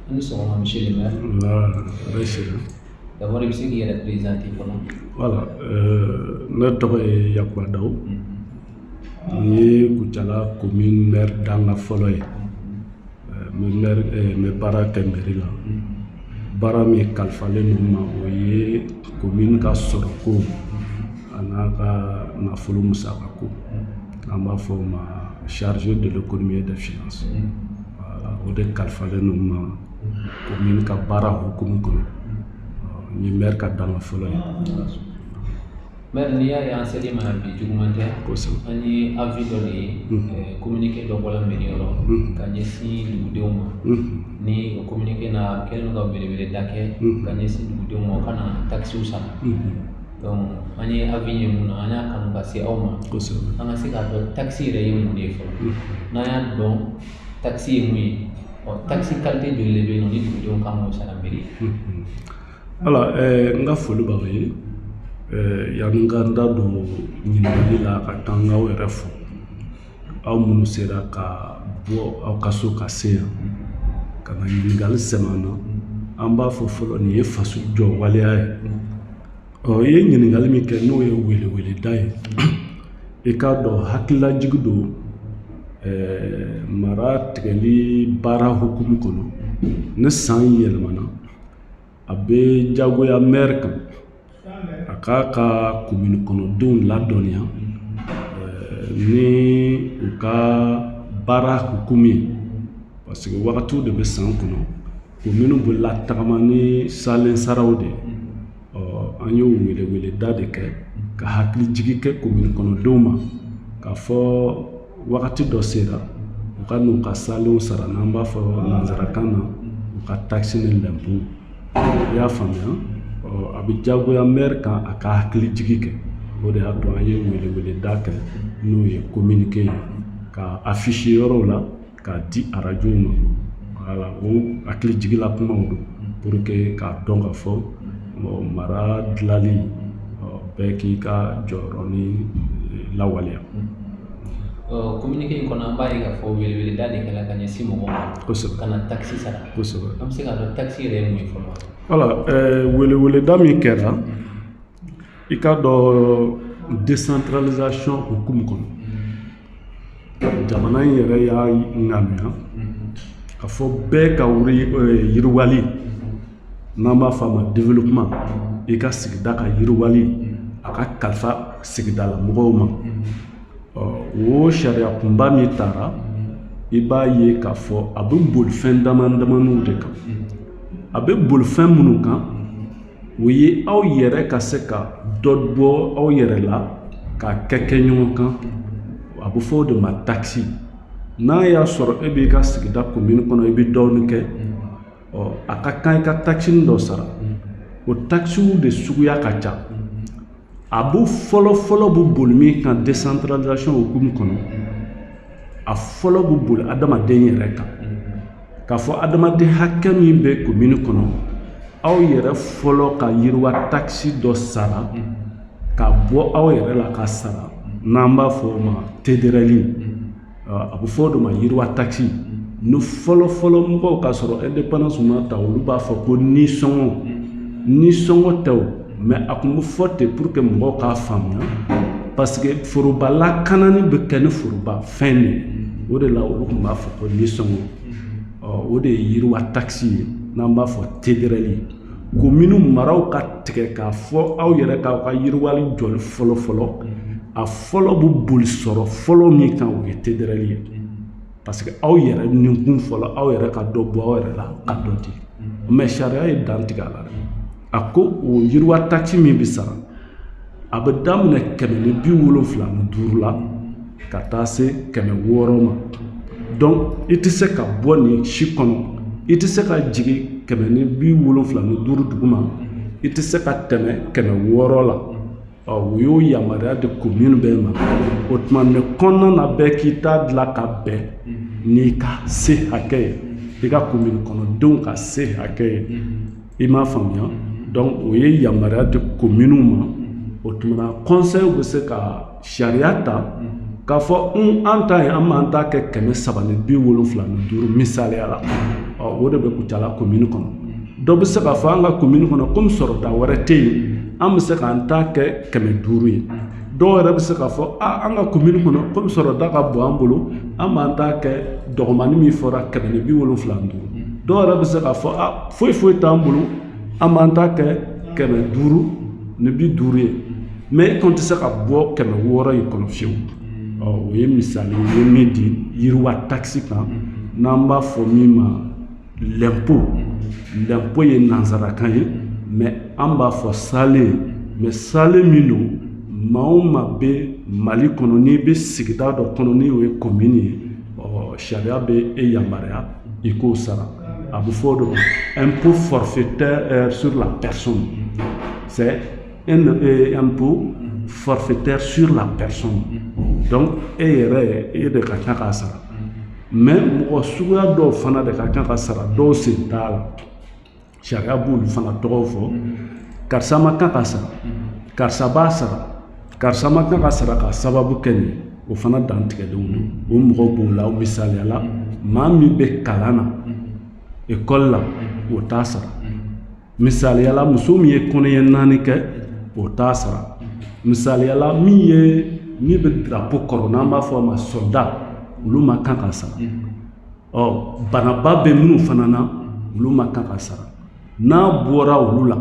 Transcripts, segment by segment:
Aw ni sɔgɔma monsieur le maire d'abord i bɛ se k'i yɛrɛ présenter kɔnɔ voilà ne tɔgɔ ye Yakuba Daw n ye Kucala commune mɛri dankan fɔlɔ ye n bɛ baara kɛ mɛri la baara min kalifalen don n ma o ye commune ka sɔrɔko ani a ka nafolo musakako An b'a fɔ o ma chargé de l'économie et des finances voilà o de kalifalen don n ma commune ka baara hukumu kɔnɔ ni mɛri ka dankan fɔlɔ ye mɛri n'i y'a ye an sera i ma bi juguman tɛ an ye avis dɔ de ye kominike dɔ bɔra mɛri yɔrɔ ka ɲɛsin dugudenw ma ni kominike na kɛ ka weleweleda kɛ ka ɲɛsin dugudenw ma ka na takisiw sara an ye avis ye mun na an y'a kanu ka se aw ma an ka se k'a dɔn takisi yɛrɛ ye mun de ye fɔlɔ n'an y'a dɔn takisi ye mun ye ɔ takisi kalite joli de bɛ yen nɔ ni dugudenw ka kan k'o sara mɛri voilà n ka foli b'aw ye yanni n ka n da don ɲininkali la ka taa n ka aw yɛrɛ fo aw minnu sera ka bɔ aw ka so ka se yan ka na ɲininkali sɛmɛ an na an b'a fɔ fɔlɔ nin ye faso jɔ waleya ye ɔ i ye ɲininkali min kɛ n'o ye weleweleda ye i k'a dɔn hakililajigi don eh, mara tigɛli baara hukumu kɔnɔ ni san yɛlɛmana a bɛ jagoya mɛri kan a k'a ka commune kɔnɔdenw ladɔnniya ni u ka baara hukumu ye parce que wagatiw de bɛ san kɔnɔ commune bɛ latagama ni salen saraw de ye an y'o weleweleda de kɛ ka hakili jigin kɛ commune kɔnɔdenw ma k'a fɔ wagati dɔ sera u ka n'u ka salenw sara n'an b'a fɔ nanzarakan na u ka takisi ni lɛnpo i y'a faamuya a bɛ jagoya mɛri kan a ka hakili jigi kɛ o de y'a to an ye weleweleda kɛ n'o ye kominike ye k'a afficher yɔrɔw la k'a di arajo ma voilà o hakili jigila kumaw don pour que k'a dɔn k'a fɔ mara dilali bɛɛ k'i ka jɔyɔrɔ ni lawaleya commune kɔnɔ an b'a ye k'a fɔ weleweleda de kɛra ka ɲɛsin mɔgɔw ma ka na takisi sara an bɛ se k'a dɔn takisi yɛrɛ mun fɔlɔ voilà weleweleda min kɛra i k'a dɔn desantaralizasɔn hukumu kɔnɔ jamana in yɛrɛ y'a ŋaniya k'a fɔ bɛɛ ka eh, yiriwali n'an b'a fɔ a ma développement i ka sigida ka yiriwali a ka kalifa sigidala mɔgɔw ma o sariya kunba min tara i b'a ye k'a fɔ a bɛ boli fɛn damadamaniw de kan a bɛ boli fɛn minnu kan o ye aw yɛrɛ ka se ka dɔ bɔ aw yɛrɛ la k'a kɛ kɛ ɲɔgɔn kan a bɛ fɔ o de ma takisi n'a y'a sɔrɔ e b'i ka sigida komini kɔnɔ i bɛ dɔɔnin kɛ ɔ a ka kan i ka takisi dɔ sara o takisiw de suguya ka ca a bɛ fɔlɔ fɔlɔ bɛ boli min kan desantaralizasɔn hukumu kɔnɔ a fɔlɔ bɛ boli adamaden yɛrɛ kan k'a fɔ adamaden hakɛ min bɛ komini kɔnɔ aw yɛrɛ fɔlɔ ka yiriwa takisi dɔ sara ka bɔ aw yɛrɛ la ka sara n'an b'a fɔ o ma tederɛli a bɛ fɔ o de ma yiriwa takisi ni fɔlɔ fɔlɔ mɔgɔw k'a sɔrɔ indépendance ma ta olu b'a fɔ ko nisɔngɔ nisɔngɔ tɛ mɛ a tun bɛ fɔ ten pour que mɔgɔw k'a faamuya parce que foroba lakanani bɛ kɛ ni foroba fɛn de o de la olu tun b'a fɔ ko nisɔngɔ ɔ o de ye yiriwa takisi ye n'an b'a fɔ tederɛli ye komini maraw k'a tigɛ k'a fɔ aw yɛrɛ k'aw ka yiriwali jɔli fɔlɔ fɔlɔ a fɔlɔ bɛ boli sɔrɔ fɔlɔ min kan o ye tederɛli ye parce que aw yɛrɛ ninkun fɔlɔ aw yɛrɛ ka dɔ bɔ aw yɛrɛ la ka dɔ di mɛ sariya ye dan tigɛ a la a ko o yiriwa takisi min bɛ sara a bɛ daminɛ kɛmɛ ni bi wolonfila ni duuru la ka taa se kɛmɛ wɔɔrɔ ma donc i tɛ se ka bɔ nin si kɔnɔ i tɛ se ka jigin kɛmɛ ni bi wolonfila ni duuru duguma i tɛ se ka tɛmɛ kɛmɛ wɔɔrɔ la ɔ o y'o yamaruya di komini bɛɛ ma o tuma nin kɔnɔna na bɛɛ k'i ta dilan ka bɛn n'i ka se hakɛ ye i ka komini kɔnɔdenw ka se hakɛ ye i m'a faamuya donc o ye yamaruya di kominiw ma o tuma kɔnsɛyiw bɛ se ka sariya ta k'a fɔ an ta yen an b'an ta kɛ kɛmɛ saba ni bi wolonfila ni duuru misali la o de bɛ kucala komini kɔnɔ dɔ bɛ se k'a fɔ an ka komini kɔnɔ kɔmi sɔrɔda wɛrɛ tɛ yen an bɛ se k'an ta kɛ kɛmɛ duuru ye dɔw yɛrɛ bɛ se k'a fɔ aa an ka commune kɔnɔ komi sɔrɔda ka bon an bolo an b'an ta kɛ dɔgɔmani min fɔra kɛmɛ ni bi wolonfila ni duuru dɔw yɛrɛ bɛ se k'a fɔ a foyi foyi t'an bolo an b'an ta kɛ kɛmɛ duuru ni bi duuru ye mɛ e kɔni tɛ se ka bɔ kɛmɛ wɔɔrɔ in kɔnɔ fiyewu ɔ o ye misali ye min di yiriwa takisi kan n'an b'a fɔ min ma lɛnpo lɛnpo ye nansarakan ye mɛ an b'a fɔ salen mɛ salen min don maa o maa bɛ mali kɔnɔ n'i bɛ sigida dɔ kɔnɔ n'o ye komini ye ɔ sariya bɛ e yamaruya i k'o sara a bɛ fɔ o de ma impôt forfaitaire sur la personne c'est un impôt forfaitaire sur la personne donc e yɛrɛ e de ka kan k'a sara mɛ mɔgɔ suguya dɔw fana de ka kan k'a sara dɔw sen t'a la sariya b'olu fana tɔgɔw fɔ karisa ma kan k'a sara karisa b'a sara karisa ma kan k'a sara k'a sababu kɛ nin o fana dantigɛlenw don o mɔgɔ b'o la misaliyala maa min bɛ kalan na ekɔli la o t'a sara misaliyala muso min ye kɔnɔɲɛ naani kɛ o t'a sara misaliyala min ye min bɛ drapo kɔrɔ n'an b'a fɔ a ma sɔda olu ma kan k'a sara ɔ banaba bɛ minnu fana na olu ma kan k'a sara n'a bɔra olu la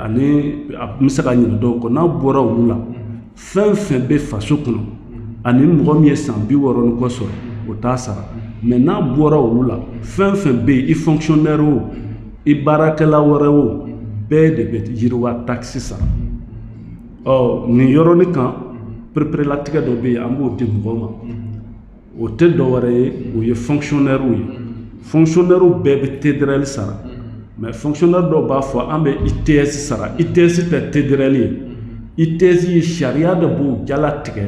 ani n bɛ se ka ɲinɛ dɔw kɔ n'a bɔra olu la fɛn fɛn bɛ faso kɔnɔ ani mɔgɔ min ye san bi wɔɔrɔ ni kɔ sɔrɔ o t'a sara mɛ n'a bɔra olu la fɛn fɛn bɛ yen i fɔnkisɔnɛri o i baarakɛla wɛrɛ o bɛɛ de bɛ yiriwa takisi sara ɔ nin yɔrɔnin kan pereperelatigɛ dɔ bɛ yen an b'o di mɔgɔw ma o tɛ dɔw wɛrɛ ye o ye fconɛw ye fconɛw bɛɛ bɛ tedli sara mɛ fconɛ dɔw b'a fɔ an bɛ i tɛ sara i tɛsi tɛ tedrli ye i tɛsi ye sariya de b'o jala tigɛ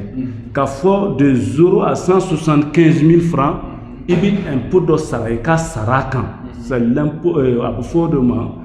ka fɔ dezo a san susan kɛnsin fara i bɛ ep dɔ sara i ka sara kan sa a bɛ fɔ o de ma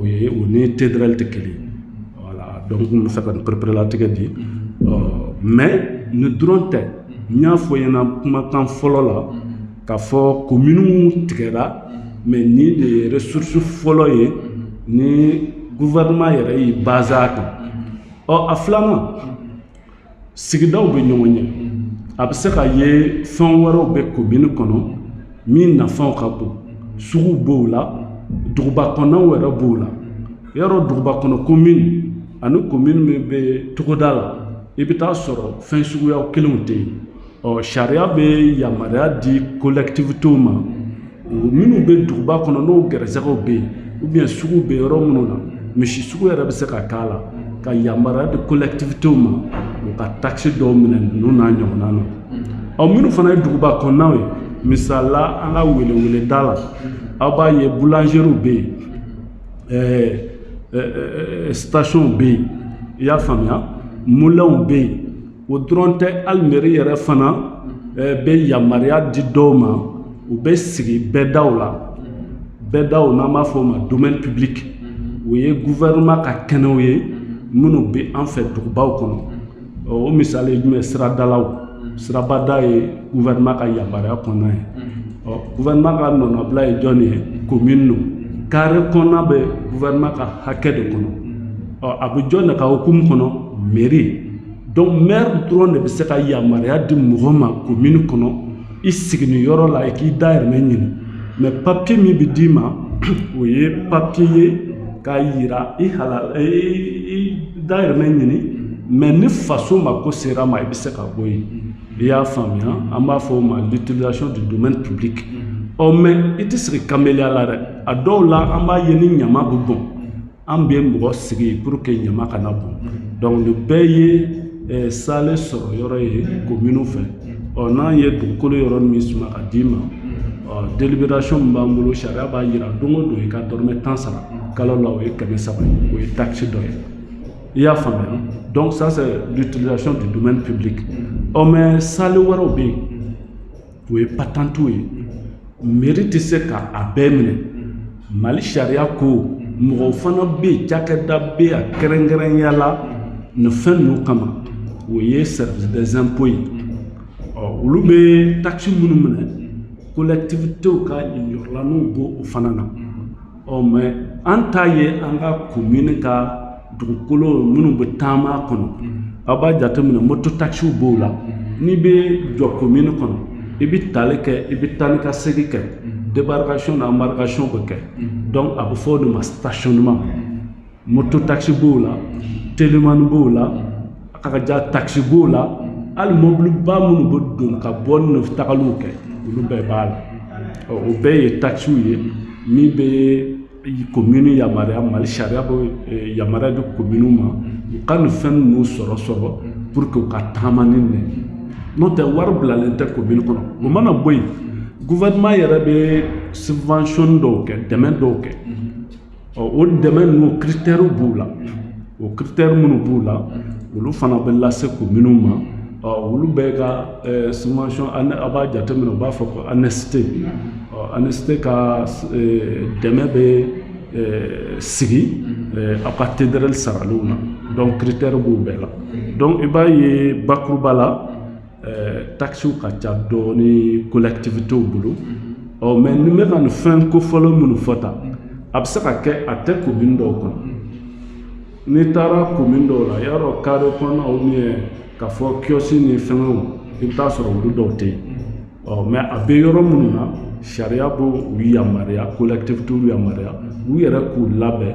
o ye o ni TDRL tɛ kelen voilà donc n tun b'a fɛ ka nin pereperelatigɛ di mɛ nin dɔrɔn tɛ n y'a fɔ ɲɛna kumakan fɔlɔ la k'a fɔ kominiw tigɛra mɛ nin de ye ressource fɔlɔ ye ni gouvernement yɛrɛ y'i basé a kan ɔ a filanan sigidaw bɛ ɲɔgɔn ɲɛ a bɛ se k'a ye fɛn wɛrɛw bɛ komini kɔnɔ min nafaw ka bon sugu b'o la duguba kɔnɔw yɛrɛ b'o la yɔrɔ duguba kɔnɔ komini ani komini min bɛ togoda la i bɛ t'a sɔrɔ fɛn suguya kelenw tɛ yen ɔ sariya bɛ yamaruya di kolɛkitivitew ma minnu bɛ duguba kɔnɔ n'o gɛrɛsɛgɛw bɛ yen ou bien sugu bɛ yɔrɔ minnu na misi sugu yɛrɛ bɛ se ka k'a la ka yamaruya di kolɛkitivitew ma u ka takisi dɔw minɛ ninnu n'a ɲɔgɔnna na ɔ minnu fana ye duguba kɔnɔnaw ye misali la an ka weleweleda la aw b'a ye boulangeries bɛ yen ɛɛ ɛɛ stations bɛ yen i y'a faamuya mulɛnw bɛ yen o dɔrɔn tɛ hali mairie yɛrɛ fana eh, bɛ yamaruya di dɔw ma u bɛ sigi bɛɛdaw la bɛɛdaw n'an b'a fɔ o ma domaine public o ye gouvernement ka kɛnɛw ye minnu bɛ an fɛ dugubaw kɔnɔ o misali ye jumɛn siradalaw sirabada ye gouvernement ka yamaruya kɔnɔna ye ɔ gouvernement ka nɔnabila ye jɔn ye commune don carré kɔnɔna bɛ gouvernement ka hakɛ de kɔnɔ ɔ a bɛ jɔn de ka hukumu kɔnɔ mairie donc maire dɔrɔn de bɛ se ka yamaruya di mɔgɔ ma commune kɔnɔ i sigi nin yɔrɔ la i k'i dayirimɛ ɲini mais papier min bɛ d'i ma o ye papier ye k'a yira i ka i dayirimɛ ɲini mais ni faso mako sera ma i bɛ se ka bɔ yen i y'a faamuya an b'a fɔ o ma l'utilisation du domaine public ɔ mais i tɛ sigi kameleya la dɛ a dɔw la an b'a ye ni ɲama bɛ bɔn an bɛ mɔgɔ sigi pour que ɲama kana bɔn mm-hmm. donc nin bɛɛ ye eh, sale sɔrɔ yɔrɔ ye kominiw mm-hmm. fɛ mm-hmm. ɔ n'an ye dugukolo yɔrɔ min suma ka d'i ma ɔ délibération min b'an bolo sariya b'a yira don o don i ka dɔrɔmɛ tan sara kalo la o ye kɛmɛ saba ye o ye taxe dɔ ye i y'a faamuya donc ça c'est l'utilisation du domaine public ɔ mais sale wɛrɛw bɛ yen O ye patantiw ye meri tɛ se k' a bɛɛ minɛ mali sariya ko mɔgɔ fana bɛ yen cakɛda bɛ yen kɛrɛnkɛrɛnya la nin fɛn ninnu kama o ye service des impôts ye ɔ olu bɛ taxe minnu minɛ collectivités ka niyɔrɔlaninw b'o fana na ɔ mais an t'a ye an ka komini ka dugukolo minnu bɛ taama kɔnɔ aw b'a jateminɛ moto takisiw b'o la n'i bɛ jɔ komini kɔnɔ i bɛ tali kɛ i bɛ taa ni ka segin kɛ debarikasiɔn na anbarikasiɔn bɛ kɛ donc a bɛ fɔ o de ma stationnement moto takisi b'o la telimani b'o la a ka ja takisi b'o la hali mɔbiliba minnu bɛ don ka bɔ ni tagaliw kɛ olu bɛɛ b'a la o bɛɛ ye takisiw ye min bɛ komini yamaruya mali sariya bɛ eh, yamaruya di kominiw ma u ka nin fɛn ninnu sɔrɔ sɔrɔ pour que u ka taama ni nin n'o tɛ wari bilalen tɛ komini kɔnɔ o mana bɔ yen gouvernement yɛrɛ bɛ subvention dɔw kɛ dɛmɛ dɔw kɛ ɔ o dɛmɛ ninnu kiritɛriw b'u la o kiritɛri minnu b'u la olu fana bɛ lase kominiw ma ɔ olu bɛɛ ka eh, subvention a b'a jateminɛ u b'a fɔ ko ANICT ɔ ANICT ka eh, dɛmɛ bɛ eh, sigi aw ka TDRL saraliw na donc kiritɛri b'u bɛɛ la donc i b'a ye bakuruba la Ɛɛ takisiw ka ca dɔɔnin kolɛtibitew bolo ɔ mɛ n bɛ ka nin fɛn ko fɔlɔ minnu fɔ tan a bɛ se ka kɛ a tɛ komini dɔw kɔnɔ n'i taara komini dɔw la y'a dɔn kare kɔnɔ ou bien k'a fɔ kiosque ni fɛngɛw i bɛ taa a sɔrɔ olu dɔw tɛ yen ɔ mɛ a bɛ yɔrɔ minnu na sariya b'u yamaruya kolɛtibitew yamaruya u yɛrɛ k'u labɛn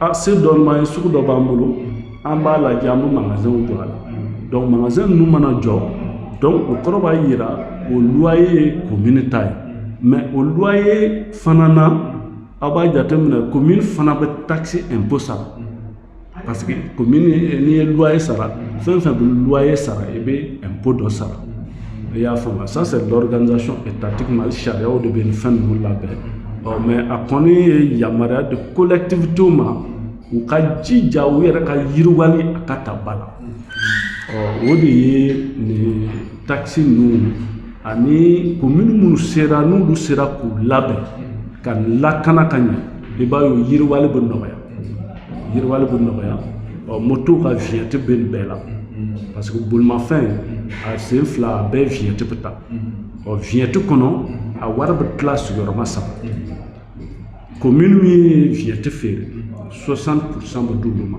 a se dɔɔnin ye sugu dɔ b'an bolo an b'a lajɛ an bɛ magazɛnw jɔ a la dɔnku magazɛn ninnu mana jɔ dɔnku o kɔrɔ b'a yira o luwaye ye komini ta ye mɛ o luwaye fana na aw b'a jateminɛ komini fana bɛ takisi ɛnpo sara parce que komini n'i ye luwaye sara fɛn fɛn bɛ luwaye sara i bɛ ɛnpo dɔ sara i y'a faamuya ça c'est l'organisation étatique Mali sariyaw de bɛ nin fɛn ninnu labɛn ɔ mais a kɔni ye yamaruya di collectivitéw ma u ka jija u yɛrɛ ka yiriwali a ka ta ba la ɔ o de ye nin takisi ninnu ani komini minnu sera n'olu sera k'u labɛn ka lakana ka ɲɛ i b'a ye o yiriwali bɛ nɔgɔya yiriwali bɛ nɔgɔya ɔ moto ka viɲɛti bɛ nin bɛɛ la parce que bolimafɛn a sen fila a bɛɛ viɲɛti bɛ ta ɔ viɲɛti kɔnɔ a wari bɛ tila sigiyɔrɔma saba komini min ye viɲɛti feere 60 pourcent bɛ d'olu ma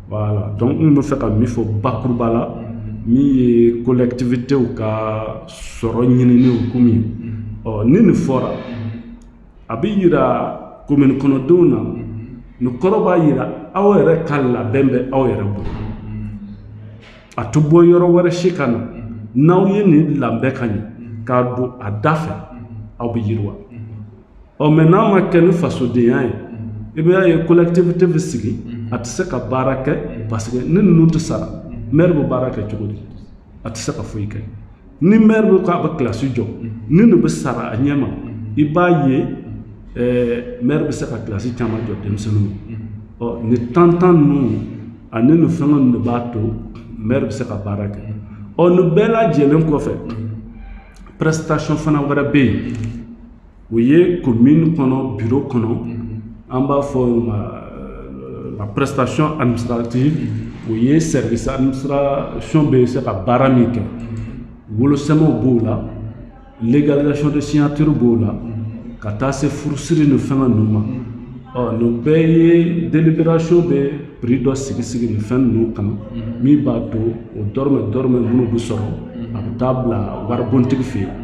Voilà donc n bɛ fɛ ka min fɔ bakuruba la min ye kolɛtibitew ka sɔrɔ ɲinini hukumu ye ɔ ni nin fɔra a bɛ yira komini kɔnɔdenw na nin kɔrɔ b'a yira aw yɛrɛ ka labɛn bɛ aw yɛrɛ bolo a tɛ bɔ yɔrɔ wɛrɛ si ka na n'aw ye nin labɛn ka ɲɛ k'a don a da fɛ aw bɛ yiriwa ɔ mɛ n'a ma kɛ ni fasodenya ye i b'a ye kolɛtibite bɛ sigi a tɛ se ka baara kɛ parce que ni ninnu tɛ sara mɛri bɛ baara kɛ cogo di a tɛ se ka foyi kɛ ni mɛri bɛ k'a bɛ kilasi jɔ ni ninnu bɛ sara a ɲɛ ma i b'a ye mɛri bɛ se ka kilasi caman jɔ denmisɛnninw ye nin tantan ninnu ani nin fɛngɛ ninnu de b'a to mɛri bɛ se ka baara kɛ ɔ nin bɛɛ lajɛlen kɔfɛ prestation fana wɛrɛ bɛ yen o ye komini kɔnɔ biro kɔnɔ mhm. an b'a fɔ euh, la prestation administrative mhm. o ye service administration bɛ se ka baara min kɛ mhm. wolosɛmɛw b'o la légalisation de signature b'o la ka taa se furusiri ni fɛngɛ ninnu ma ɔ nin bɛɛ ye délibération bɛ prix dɔ sigi sigi nin fɛn ninnu kan min b'a to o dɔrɔmɛ dɔrɔmɛ minnu bɛ sɔrɔ a bɛ taa bila waribontigi fɛ yen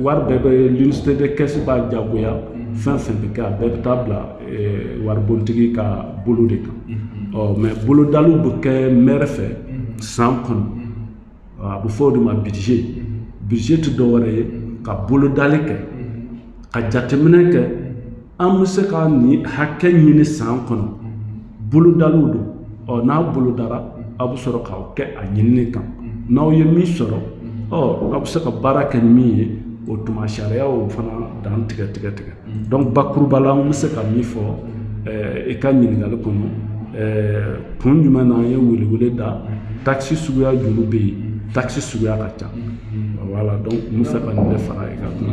wari bɛɛ bɛ l'unicité de caisse b'a jagoya fɛn fɛn bɛ kɛ a bɛɛ bɛ taa bila waribontigi ka bolo de kan ɔ mɛ bolodaliw bɛ kɛ mɛri fɛ san kɔnɔ a bɛ fɔ o de ma budget budget tɛ dɔwɛrɛ ye ka bolodali kɛ ka jateminɛ kɛ an bɛ se ka nin hakɛ ɲini san kɔnɔ bolodaliw don ɔ n'a bolodara aw bɛ sɔrɔ k'aw kɛ a ɲinini kan n'aw ye min sɔrɔ ɔ aw bɛ se ka baara kɛ ni min ye o tuma sariyaw fana dan tigɛ tigɛ tigɛ dɔnku bakuruba la an bɛ se ka min fɔ i ka ɲininkali kɔnɔ kun jumɛn na an ye welewele da takisi suguya joli bɛ yen takisi suguya ka ca wala dɔnku n bɛ se ka nin de fara i ka kuma